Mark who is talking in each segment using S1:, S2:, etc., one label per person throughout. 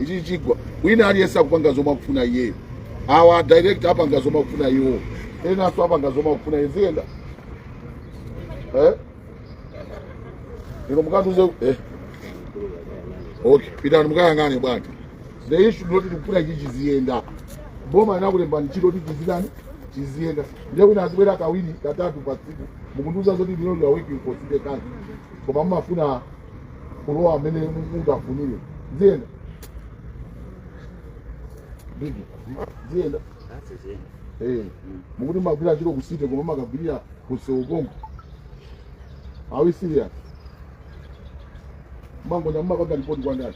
S1: ichi chigwa wina aliyense akupanga zomwe akufuna iyeyo awa director apanga zomwe akufuna iwo enanso apanga zomwe akufuna iwo ziyenda eh? inu mukandiuze eh. okay pitani mukayang'ane bwana the issue ndoti tikufuna ichi chiziyenda boma inakulembani ntchito kuti chizitani chiziyenda ndiye wina azibwera kawiri katatu pa tsiku mukundiuza zoti lero you are working for city council koma mumafuna kulowa amene munthu afunire ziyenda bigi ziyenda Eh, mukuti magwira ntchito kusite koma mumakagwirira kuseukongo are we serious mangonya mumapanga ripoti kwandani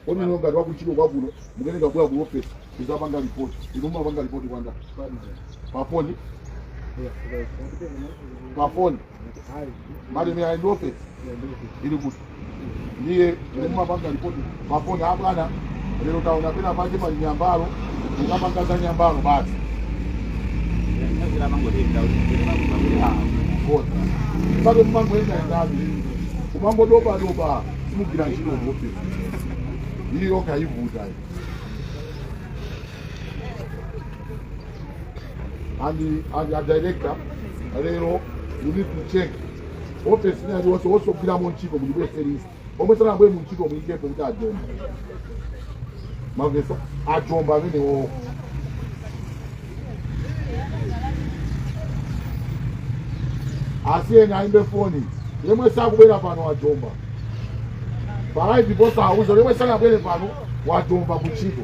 S1: kodi inu ngati wakuntchito kwakuno mukuyeneka kubwera ku office kuzapanga ripoti inu mumapanga ripoti kwandani pafoni pafoni malemu aendope ili kuti ndiye mumapanga ripoti pafoni abwana lero taona pena pake pali nyambalo ukapanga za nyambalo basi pake mumangoendaendavi kumangodobadoba simugira ntchito zote iyo kaivuta and the, and the director lero you need to check office ina yonse wosogwira mu ntchito kuti bwese list omwe sanabwe mu ntchito muyikepo kuti ajomba mwamvetsa ajomba amenewo asiyeni ayimbe foni yemwe sakubwera pano wajomba palaivi posauza yemwe sanabwere pano wajomba ku ntchito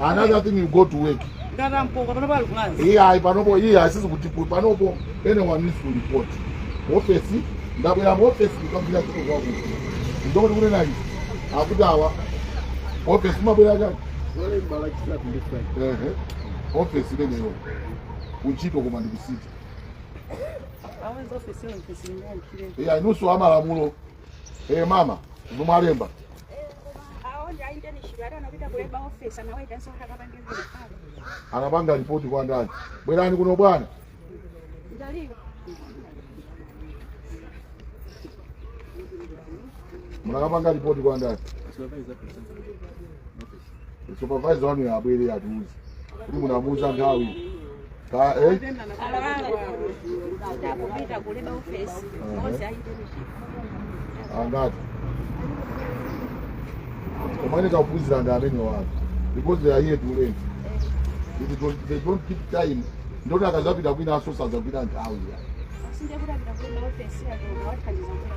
S1: another thing you go to work iye ayi panopo iye asizi kuti panopo anyone needs to report ofesi ndabwera mu ofesi kukagwira ntchito kwako ndokuti kunena izi akuti awa ofesi mabwera chani ofesi imeneyo kuntchito koma ndikusiti iye ayi inunso amalamulo Eh mama, ndo mwalemba. Anapanga ripoti kwa ndani. Bwerani kuno bwana. Mnakapanga ripoti kwa ndani. supervisor wanu abwere atiuze kuti munamuuza nthawi ka eh? tapita ku Labour ofesi onse ayite michiko angati koma akaphunzira ndi amene wake because they are here to learn It don't, they don't keep time ndoti akazapita kwina awonso sazagwira nthawi ya sinde kuti apita ku Labour ofesi yake wathandiza kuleba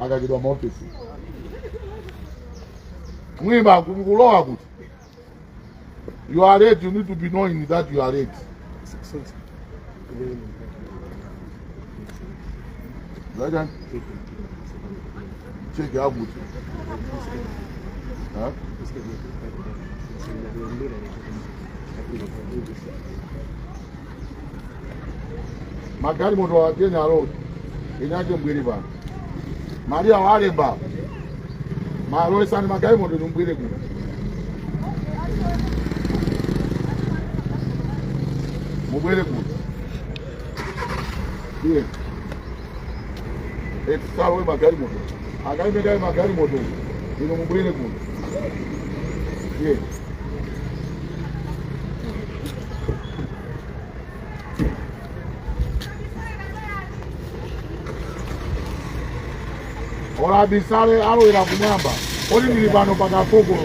S1: akachedwa mu ofesi mwina kulowa kuti you are late you need to be knowing that you are late right check it out Huh? magalimoto wa Kenya road inuyo mubwere pano Maria walemba musalowetse magalimoto inu mubwere kuno mubwere kuno iye eti asalowe magalimoto akaimekaye magalimoto inu mubwere kuno iye ola abisale alowere kumwamba oli ndili pano pakafukulu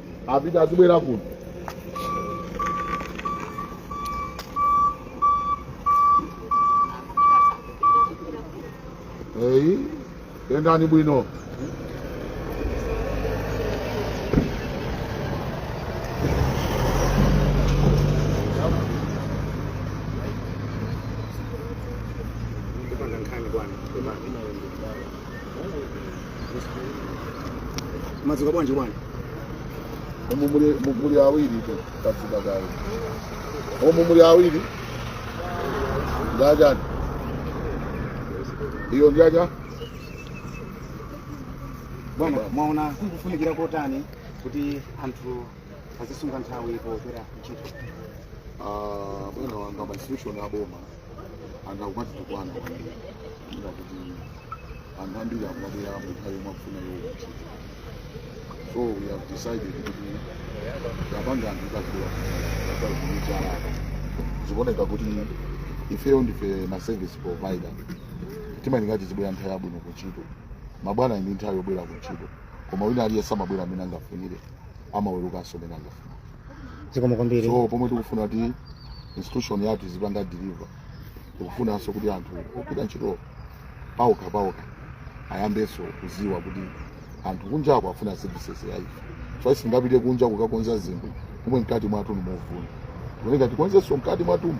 S1: apita azibwera kuno ee yendani bwino
S2: Mwadzuka bwanji bwana? Umu muli
S1: mu- muli awiritu tadzuka kale. Umu muli awiri. Jaja. Iyo
S2: Jaja. Bwana, mwaona kufunikira kotani kuti anthu azisunga nthawi popita kuntchito? Ah,
S1: bwana wanga ma institution aboma anthu akumatitukwana kwambiri ndiye kuti anthu ambiri akumabwera munthawi yomwe afuna iwo kuntchito so we have decided kuti tipange anthu kazikula kuchala zikuoneka kuti ifeyo ndife ma service provider timayenera tizibwera nthawi yabwino kuntchito mabwana ali ndi nthawi yobwera kuntchito koma wina aliyense amabwera mmene angafunire amawerukanso mmene angafuna zikomo
S2: kwambiri so pomwe tikufuna
S1: kuti institution yathu izipanga deliver tikufunanso kuti anthu ogwira ntchito paokha paokha ayambenso kuziwa kuti anthu kunjako afuna services ya ife so sitingapite kunja kukakonza zinthu pomwe mkati mwathu ndi movunda tikuyenera tikonzenso mkati mwathumu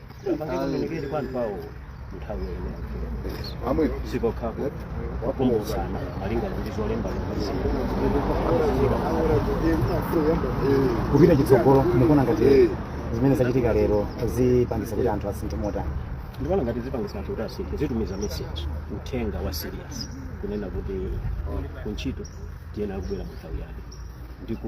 S3: Azilikiri kwa anthu awo nthawi imene
S1: amwe
S3: sikokhapo wakumbusana malinga ndi zolemba
S2: kupita chitsogolo mukuona ngati zimene zachitika lero zipangisa kuti anthu asinthe motani ndikuona ngati
S3: zipangisa anthu kuti asinthe zitumiza message uthenga wa serious kunena kuti kuntchito tiyenera kubwera mu nthawi yake ndipo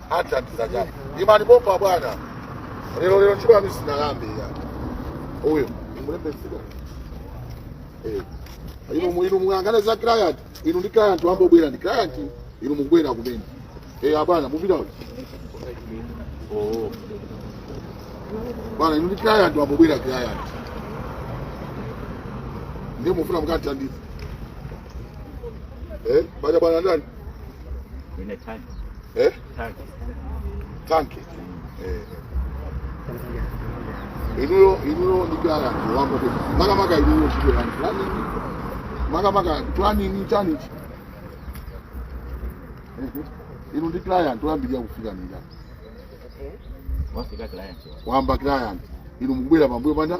S1: athandiza chani imani pompo bwana lero lero ntchito yanu isanayambe ya uyo mulembesika eh inu mu- inu muyang'ane za client inu ndi client wangobwera ndi client inu mubwera kumene eh abwana mupita uyo oh bwana inu ndi client wangobwera client ndiye mufuna mukathandiza eh baja bwana ndani
S4: Ine tanki.
S1: eh? Tanki. tanki eh. inuyo inuyo ndikuyala wako makamaka inuyo ntchito yanji planning makamaka planning chani chi inu ndi client woyambirira kufika nija
S4: Wafika client.
S1: wayamba client inu mukubwera pambuyo panda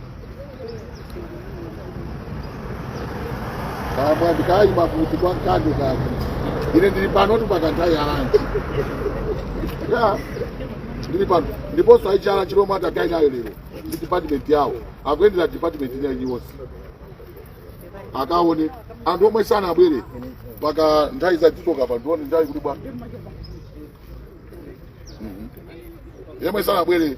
S1: kamwa ndikayima kuti kwa kanthawi kake ine ndili panotu mpaka nthawi ya lunch ndili pano ndiponso aichala chilomwe atakhale nayo lero ndi department yawo akuyendera department ina iliyonse akaone anthu omwe sanabwere mpaka nthawi zakezo kapena akuluwa Mhm. yemwe sanabwere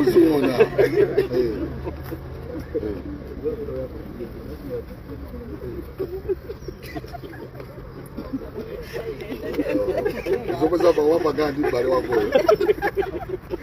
S1: uziona zomwe wapanga ndi m'bale wakoyo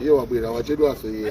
S1: Iye wabwera wachedwanso iye.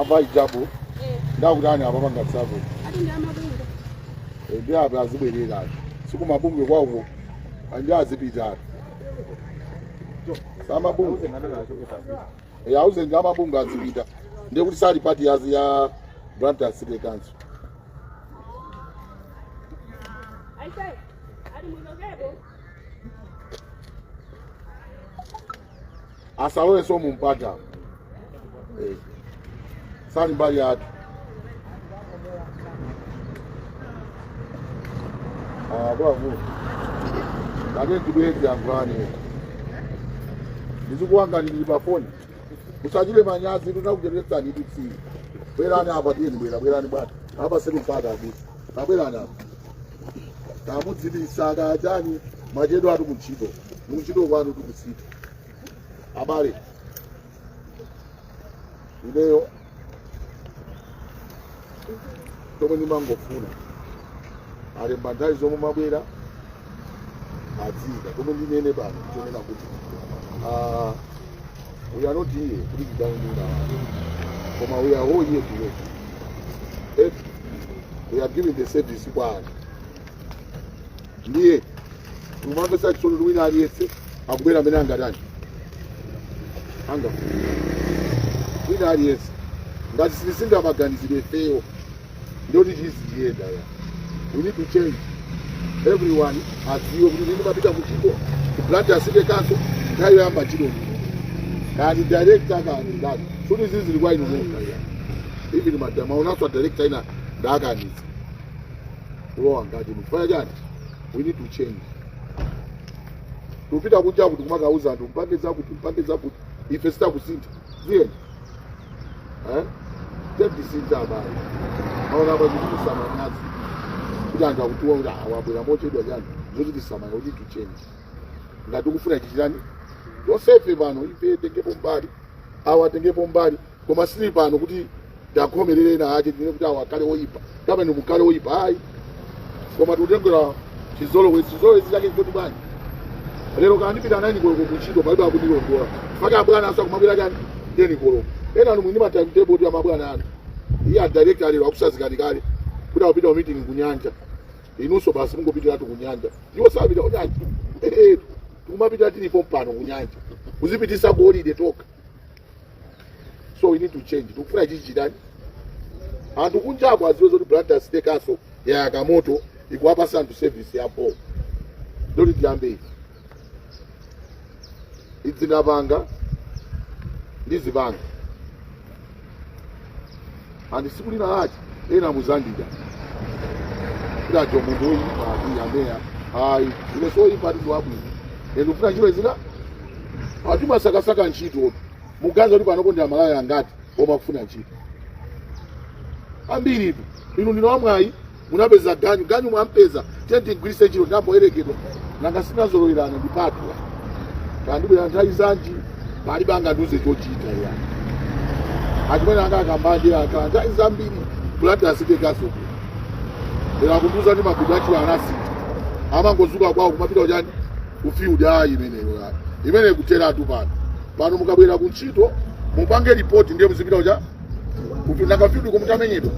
S1: ava ijabu ndakutani apangatsa ndi apa azibwerera ati siku mabungwe kwawoko and azipita ati samabungwe Eh, auze ngati amabungwe azipita ndiye kuti sali pati yazi ya Blantyre City Council Aisee, hadi mwondokepo. asalowenso mu mpata Eh, sali mbali yathu akuluakulu kane ndibwere tiyankhulane ndizikuwanga ndili pa foni musachite manyazi ndinakucheretsani ndi tsiyi bwerani apa tiyeni bwera bwerani bwana apa sili mpata abisa kabwerani apa kamudzibisa kachani mwachedwatu kuntchito kuntchito kwanu tikusintha abale ineyo chomwe ndimangofuna alemba nthawi zomwe mumabwera adziika chomwe ndinene pano chonena kuti ah, we are not here kuti tidaunduna koma we are all here to work If we are giving the service kwa anthu ndiye umamvesa chisoni ndi wina aliyense akubwera amene angatani anga wina aliyense ngati sitisintha maganizidwe ifeyo ndoti siziyenda ya we need to change everyone adziwe kuti ine ndimapita kuntchito ku blantyre city council nthawi yoyamba ntchito kaya ndi director kaya ndani kuti zizi zili kwa inu nokha ya even madama unaswa director wina ndakaniza kulowa ngati munthu fanya chani we need to change tupita kuja kuti kumakauza anthu mpange zakuti mpange zakuti ife sitikusintha tiyeni eh tisinthe abale aona apa zikuchitisa manyazi kuti anthu akutiwona kuti awa abwera mochedwa chani zochitisa manyazi we need to change ngati tikufuna chichitani tonsefe pano ife titengepo mbali awa atengepo mbali koma sitili pano kuti tiwakhomerere ena ake tinene kuti awa akhale oyipa kapena mukhale oyipa ayi koma tikutengera chizolowezi chizolowezi chake chikuti bwanji lero kana ndipita nayini koloko kuntchito palibe akundilondola chifukwa abwana nawonso akumabwera chani teni koloko ena inu muli ndi matimetable a mabwana anu iye adirector lero akusazikani kale kuti akupita ku meeting kunyanja inunso basi mungopitiratu kunyanja iwo sapita kunyanja Eh, eh, tikumapita tili pompano kunyanja kuzipitisa ku holiday tokha so we need to change tikufuna chichitani anthu kunjako aziwe zoti blantyre city council yayaka moto ikuwapasa anthu service ya bho ndoti tiyambe izi izi ndinapanga ndizipanga and tsiku lina lake ena muzandida kiracho munthu woyipa ati ameya ayi ine si woyipatu ndi wabwino ine ndikufuna ntchito zina anthu amasakasaka ntchito muganiza kuti panopo ndi amalawi angati omwe akufuna ntchito ambiri tu inu ndinu amwayi munapeza ganyu ganyu mwampeza tiye tigwiritse ntchito zamboyerekeza nanga sitinazolowerana ndipatula kaya ndibwera nthawi zanji palibe angandiuze chochita ya achimwene anga akambanji aka nthawi zambiri Blantyre City Council lero akundiuza kuti mabindu achiwo anasita amangozuka kwawo kumapita ujeni kufiudi a imeneyo ya imene kuteratu pano pano mukabwera kuntchito mupange ripoti ndiye muzipita uja kuti nanga kufiudi komwe mutamenyedwa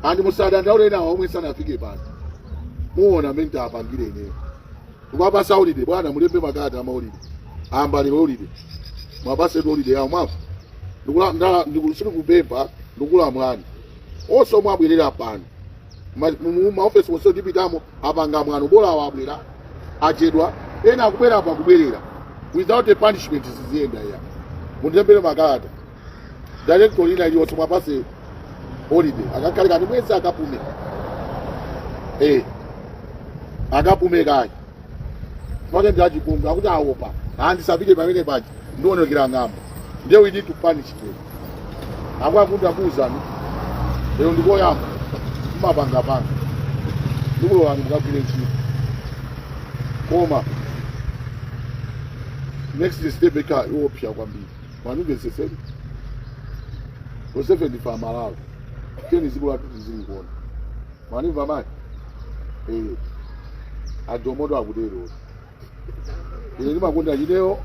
S1: andi musadandaule nawo omwe sanafike pano muona mmene titapangire ineyo muwapatsa holide bwana mulembe makalata ama holide ambali holide muwapatsetu holide yawo mwafu ndikula ndala ndikulusiri sindikupempha ndikulamulani onse omwe abwerere pano Ma- mu- mu- maofesi onse tipitamo apanga mwano bola awo abwera ochedwa ena akubwera apa kubwerera without a punishment ziziyenda ya munditembere makalata director lina iliyonse muwapatse holiday akakhale kaye mwezi akapume eh akapume kaye maka ndi achipongwe akuti awopa andisapite pamene paja ndionekera ng'ombe ndiye we need to punish them akwakuti akuwuzani lero ndikoyamba mmapangapanga ndikulowani mukagwire ntchito koma next step ikhala yoopsa kwambiri mundimvetsetse tosefe ndife amalawi teni zikulu athu tizilikuona mwandimva mani Eh, ajomoto akutero ine ndimakonda ineyo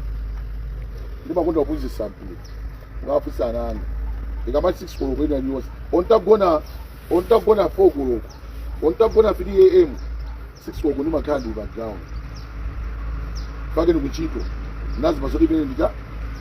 S1: ndimakonda kuphunzitsa mpira ngaphunzitse ana anga ikamati 6 koloko ina iliyonse olo nditagona 4 koloko olo nditagona 3 am 6 koloko ndimakhala ndili pa ground pake ndi kuntchito nazi mmazonda mmene ndika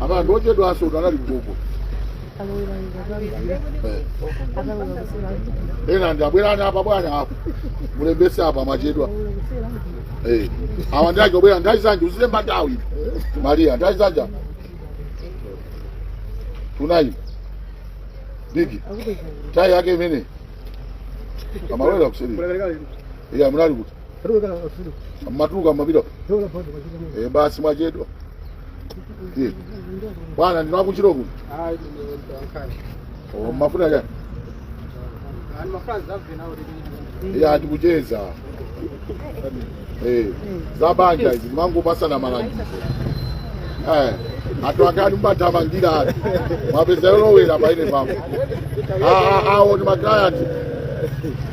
S1: apa anthu ochedwanso kuti anali kutoko Eh. ena tabwerani apa bwana apa mulembetse apa amachedwa Eh. awa ndi aja obwera nthawi zanji uzilemba nthawi maria nthawi zanji tunayi bigi nthawi yake imene amalowera kuseri iya munali kuti mumatuluka mumapita e basi mwachedwa Ndiye. bwana ndinali kuthira Oh, mafuta chani ya tikucheza Eh, za banja izi timangopatsana malangizo Eh, anthu akati mumathamangira ati mwapeza yolowera apa ine pamwe awo ndi ma client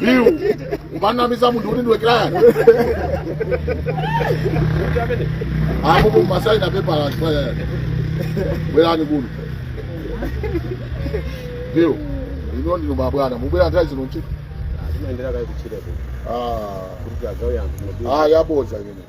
S1: BU umanamiza munthu kuti ndiwe kirayani amupo umasaina pepala bwerani ku BU ino ndinu mabwana mubwera nthawi zino ntchito Ah,
S3: ah, yabodza imene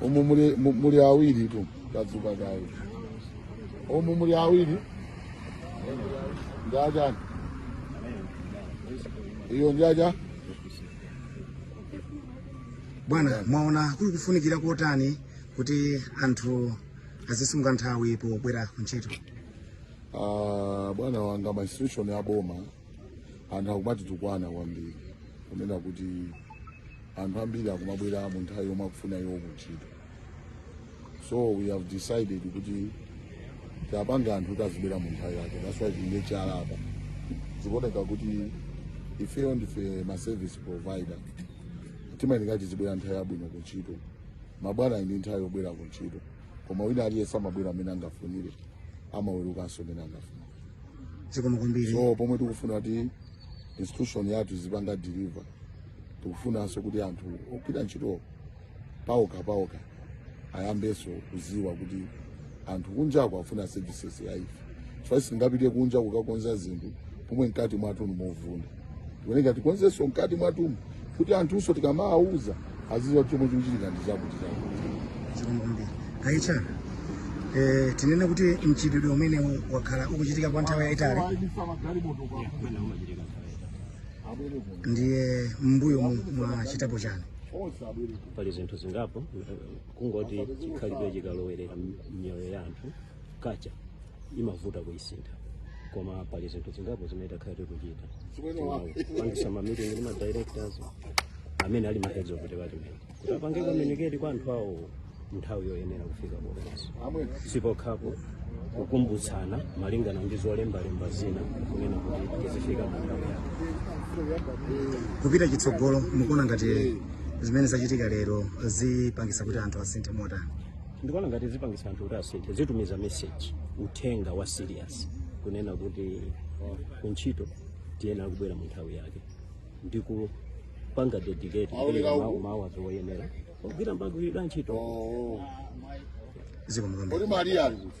S2: umu
S1: muli, mu- muli awiri tu kadzuka kaye umu muli awiri njajani iyo njaja
S2: bwana mwaona kuli kufunikira kotani kuti anthu azisunga nthawi pobwera ku ntchito Ah, bwana
S1: wanga ma institution ya boma anthu akumatitukwana kwambiri kunena kuti anthu ambiri akumabwera mu nthawi yomwe akufuna iwo kuntchito so we have decided kuti tiwapange anthu kuti azibwera mu nthawi yake that's why tilibe chalapa zikuoneka kuti ifeyo ndife ma service provider timayenera tizibwera nthawi yabwino kuntchito mabwana ndi nthawi yobwera kuntchito koma wina aliyense amabwera mmene angafunire amawerukanso mmene angafunire
S2: zikomo kwambiri so pomwe tikufuna
S1: kuti institution yathu izipanga deliver tikufunanso kuti anthu ogwira ntchito pawokha pawokha ayambenso kuziwa kuti anthu kunjako afuna services ya ife chifukwa sitingapite kunja kukakonza zinthu pomwe mkati mwathu ndi movunda tikuyeneka tikonzenso mkati mwathumu kuti anthunso tikamawauza aziziwa kuti chomwe chikuchitika ndi chakuti zikomo
S2: kwambiri aicha eh, tinene kuti mchitidwe umenewu wakhala ukuchitika kwa nthawi yayitali ndiye mmbuyomu mwachitapo chani pali
S3: zinthu zingapo eh, kungoti chikhalidwe chikalowerera m- m'miyoyo ya anthu culture imavuta kuisintha koma pali zinthu zingapo zimene takhala tikuchita kupangisa mamiting ndi madirectors amene ali maheads of department kuti apange communicate kwa anthu awo nthawi yoyenera kufika komanso sipokhapo kukumbutsana malingana ndi zolembalemba zina kunena kuti tizifika mu nthawi yake
S2: kupita chitsogolo mukuona ngati zimene zachitika lero zipangisa kuti anthu asinthe motani ndikuona
S3: ngati zipangisa anthu kuti asinthe zitumiza message uthenga wa serious kunena kuti oh, kuntchito tiyenera kubwera mu nthawi yake ndi kupanga dedicate kupereka ma hours oyenera ogwira
S1: pogwira
S3: ntchito zikomo
S2: kwambiri
S1: Kodi Maria
S3: ali kuti?